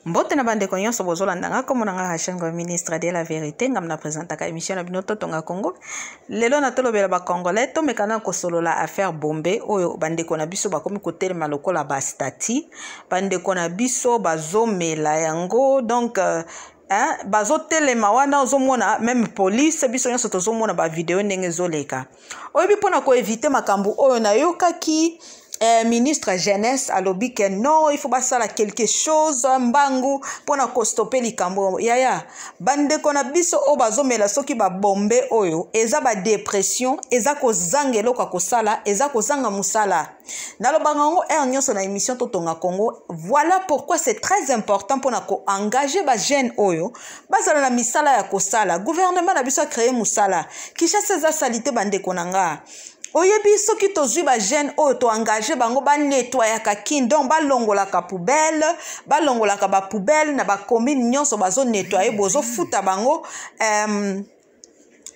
mbote na bandeko nyonso bozolanda nga komona nga rachel ngo ministre de la verité ngam na presentaka émission na bino totonga congo lelo na tolobela bacongolais tomekana kosolola affaire bombe oyo bandeko na biso bakomi kotelema lokola bastati bandeko na biso bazomela yango donc euh, hein? bazotelema wana ozomona meme police biso nyonso tozomona bavideo ndenge ezoleka oyebi mpo na koevite makambo oyo nayokaki eh, ministre jeunesse alobi ke non il faut basala quelque chose mbangu mpo na kostope likambo yaya bandeko na biso oyo bazomela soki babombe oyo eza badepression eza kozanga eloko ya kosala eza kozanga mosala nalobaka yango heure nyonso na émission totonga congo voilà pourquoi c'est très important mpona koengage bajeune oyo bazala na misala ya kosala gouvernement na biso acreye mosala kinshasa eza salite bandeko na nga oyebi soki tozwi bajeune oyo toengage bango banetwayaka kin donc balongolaka poubelle balongolaka bapoubelle na bacommune nyonso bazonetwaye bozofuta bango um,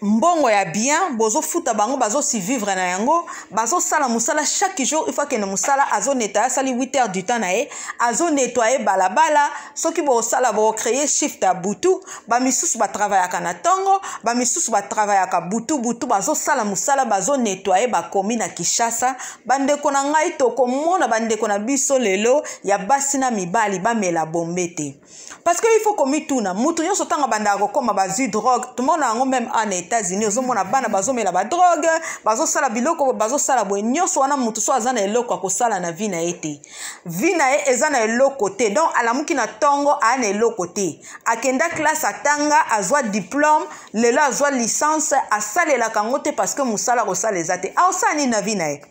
mbongo ya bien bozofuta bango bazosivivre na yango bazosala mosala chaque jour il faut akende mosala azoneta asali 8 heures du temps na ye azonetoye balabala soki bosala bocreye shift ya butu bamisusu batravayaka na ntongo bamisusu batravayaka butu butu bazosala mosala bazonetoye bakomi na kinshasa bandeko na ngai tokomona bandeko na biso lelo ya basi na mibali bamela bombe te parce que il faut komituna moto nyonso ntango abandaka kokoma bazwi drogue tomona yango meme a na états-unis ozomona bana bazomela badrogue bazosala biloko bazosala boye nyonso wana moto so aza na eloko ya kosala na vi na ye te vi na ye eza na eloko te donc alamuki na ntongo aya na eloko te akenda classe atanga azwa diplome lelo azwa licence asalelaka yango te parce que mosala kosala eza te aosala nini na vi na ye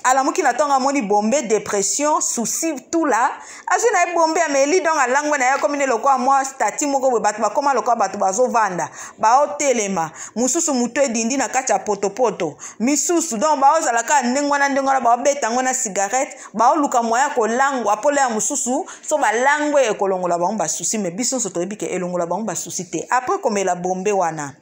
alamuki na ntongo amoni bombe depression souci tout la azwi na ye bombe ameli donc alangwe na ye akomi nde lokola mwa stati moko boye bato bakóma lokola bato bazovanda baotelema mosusu moto edindi na kati ya potopoto misusu donc baozala kaka ndenge wana ndenge wana baobeta yango na cigarette baoluka moya kolangwa mpo lea mosusu so balangwe ekolongola bango basusi me biso nyonso toyebi ke elongola bango basusi te apres komela bombe wana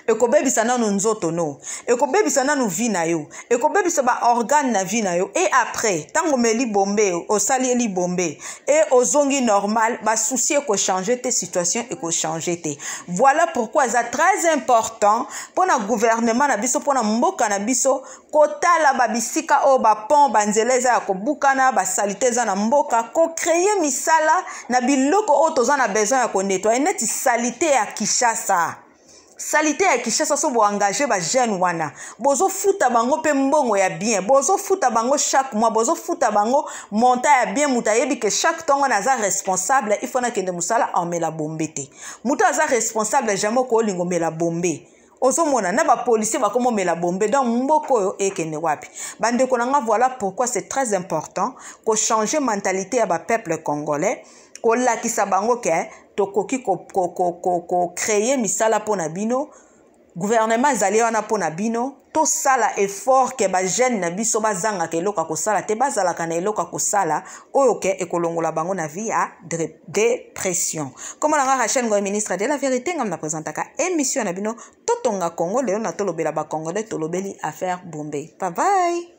ekobebisa nanu nzoto no ekobebisa nanu vie na yo ekobebisa baorgane na vie na yo e après ntango omeli bombe osali eli bombe e ozongi normal basusi ekochange te situation ekochange te voilà pourquoi eza très important mpo na gouvernement na biso mpo na mboka na biso kotala babisika oyo bapont banzela eza ya kobukana basalite eza na mboka kocreye misala na biloko oyo toza na besoin ya konetwaye neti salite ya kinshasa salite ya kinshasa so boengage bajeune wana bozofuta bango mpe mbongo ya bien bozofuta bango chaque mois bozofuta bango monta ya bien moto ayebi ke chaque ntongo na aza responsable ifo nakende mosala amela bombe te moto aza responsable jamai okoolinga omela bombe ozomona na bapolisier bakomomela bombe donc mboka oyo ekende wapi bandeko na nga voilà pourquoi c'est très important kochange mentalité ya bapeuple congolais kolakisa bango ke tokoki kocreye misala mpo na bino gouvernement ezali wana mpo na bino tosala effort ke bajeune na biso bazangaka eloko ya kosala te bazalaka na eloko ya kosala oyo ke ekolongola bango na vie ya depression nkombo na nga rachel ngoy ministre de la vérité ngam na présentaka émission na bino totonga congo lelo na tolobela bacongolais tolobeli affaire bombe babai